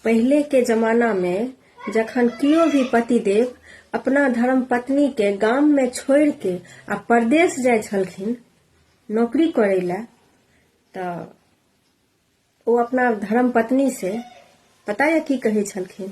पहिले के जमाना मे जखन कियो भी पतिदेव अपना धर्मपत्नी के गाम मे छोड़ि के आ परदेश जाइ छलखिन नौकरी करय लए तऽ ओ अपना धर्मपत्नी से पता यऽ की कहै छलखिन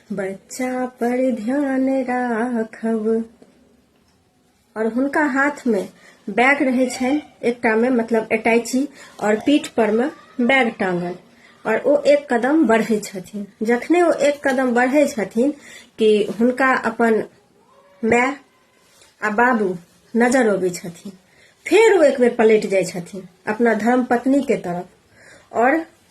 बच्चा पर ध्यान राखब और हुनका हाथ में बैग रहे छनि एकटा में मतलब अटैची और पीठ पर में बैग टांगल और ओ एक कदम बढ़े छथिन जखने ओ एक कदम बढ़े छथिन कि हुनका अपन माय आ बाबू नजर अबै छथिन फेर ओ एक बेर पलटि जाइ छथिन अपना धर्म पत्नी के तरफ और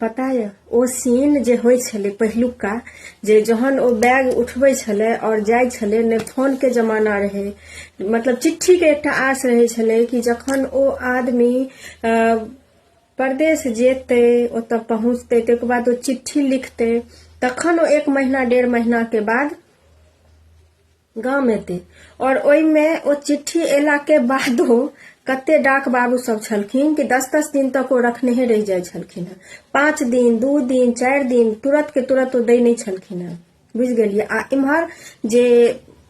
पता यऽ ओ सीन जे होइ छलै पहिलुका जे जहन ओ बैग उठबै छलै आओर जाइ छलै ने फोनके जमाना रहै मतलब चिट्ठीके एकटा आस रहै छलै कि जखन ओ आदमी परदेश जेतै ओतऽ पहुँचतै ताहिके बाद ओ चिट्ठी लिखतै तखन ओ एक महीना डेढ़ महीनाके बाद गाम एतै आओर ओहिमे ओ चिट्ठी अयलाके बादो कते डाक बाबू सब छलखिन कि दस दस दिन तक ओ रखनेहे रहि जाइ छलखिन हेँ पाँच दिन दू दिन चारि दिन तुरत के तुरत ओ दै नहि छलखिन हेँ बुझि गेलियै आ इम्हर जे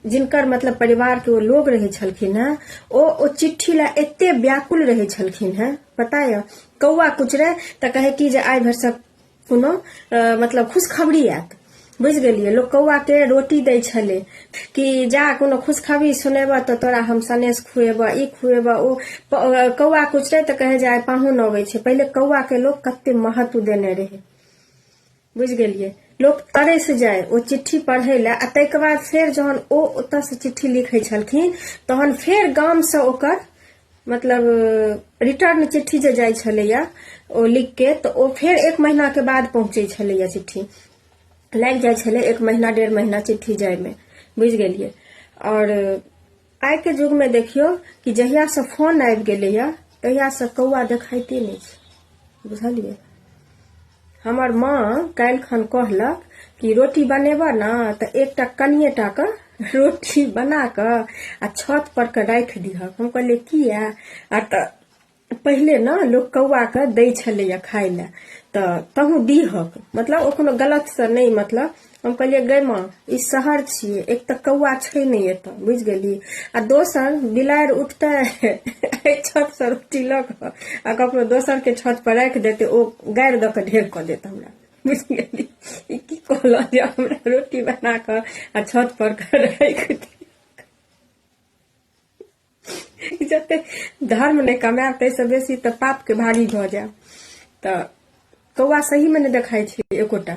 जिनकर मतलब परिवार के ओ लोग रहे छलखिन हेँ ओ ओ चिट्ठी ला एते व्याकुल रहे छलखिन हेँ पता यऽ कौआ कुचरे तऽ कहे कि जे आइ भरि सब कोनो मतलब खुशखबरी आयत बुझि गेलियै लोक कौआके रोटी दै छलै कि जा कोनो खुशखबरी सुनेबह तऽ तोरा हम सनेश खुएबह ई खुएबह ओ कौआ कुचरै तऽ कहै जे आइ पाहुन अबै छै पहिले कौआके लोक कते महत्व देने रहै बुझि गेलियै लोक तरस जाय ओ चिट्ठी पढ़ै लए आ ताहिके बाद फेर जहन ओ ओतऽसँ चिट्ठी लिखै छलखिन तहन फेर गामसँ ओकर मतलब रिटर्न चिट्ठी जे जाइ छलैए ओ लिख के तऽ ओ फेर एक महीनाके बाद पहुँचै छलैए चिट्ठी लागि जाइ छलै एक महीना डेढ़ महीना चिट्ठी जाइमे बुझि गेलियै आओर आइके युगमे देखियौ कि जहियासँ फोन आबि गेलैए तहियासँ कौआ देखाइते नहि छै बुझलियै हमर माँ काल्हि खन कहलक कि रोटी बनेबह ने तऽ एकटा कनिए टा के रोटी बना कऽ आ छत पर के राखि दिहक हम कहलियै किया आ तऽ पहिले ने लोक कौआ के दै छलैया खाय लए तऽ तहूँ दिहक मतलब ओ कोनो गलत से नहि मतलब हम कहलियै गै माँ ई शहर छियै एक तऽ कौआ छै नहि एतऽ बुझि गेली आ दोसर बिलाड़ि उठतै एहि छत से रोटी लऽ कऽ आ ककरो दोसर के छत पर राखि देतै ओ गाड़ि दऽ कऽ ढेर कऽ देत हमरा बुझि गेली ई की कहलऽ जे हमरा रोटी बना कऽ आ छत पर कऽ राखि दे जते धर्म नहि कमायब ताहिसँ बेसी तऽ पापके भागी भऽ जायब तऽ कौआ सहीमे नहि देखाइ छै एकोटा